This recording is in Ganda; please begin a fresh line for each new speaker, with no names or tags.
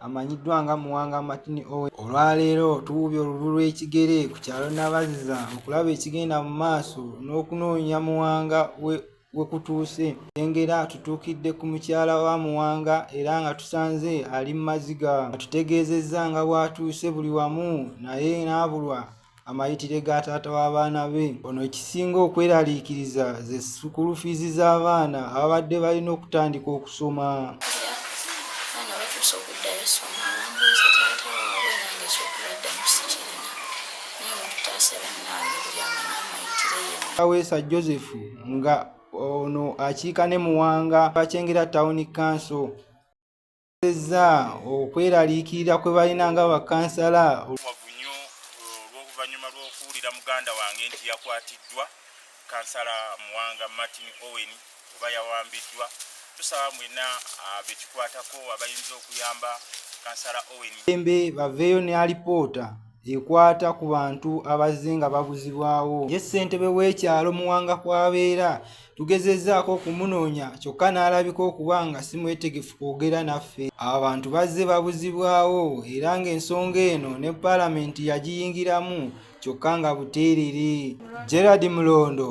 amanyiddwa nga muwanga martin owe olwaleero tuwubya olululu lw'ekigere ku kyalo nabaziza okulaba ekigenda mu maaso n'okunoonya muwanga we kutuuse engera tutuukidde ku mukyala wa muwanga era nga tusanze ali mu maziga atutegeezezza nga bw'atuuse buli wamu naye n'abulwa amayitire ga taata w'abaana be ono ekisinga okweraliikiriza ze sukulu fiizi z'abaana ababadde balina okutandika okusoma aweesa joseph nga ono akiika ne muwanga bakyengera tawuni kanso bategeezezza okweraliikirira kwe balina nga bakansala wavu nnyo uh,
olw'oluvannyuma lw'okuwulira muganda wange nti yakwatiddwa kansala muwanga martin owen oba yawambiddwa tusaba mwena uh, bekikwatako abayinza okuyamba kansala owen embe baveeyo
ne alipoota ekwata ku bantu abazze nga babuzibwawo ye ssentebe w'ekyalo muwanga kwabeera tugezezaako okumunoonya kyokka n'alabika okuba nga si mwetegefu kwogera naffe abantu bazze babuzibwawo era ng'ensonga eno ne paalamenti yagiyingiramu kyokka nga buteerere gerard mulondo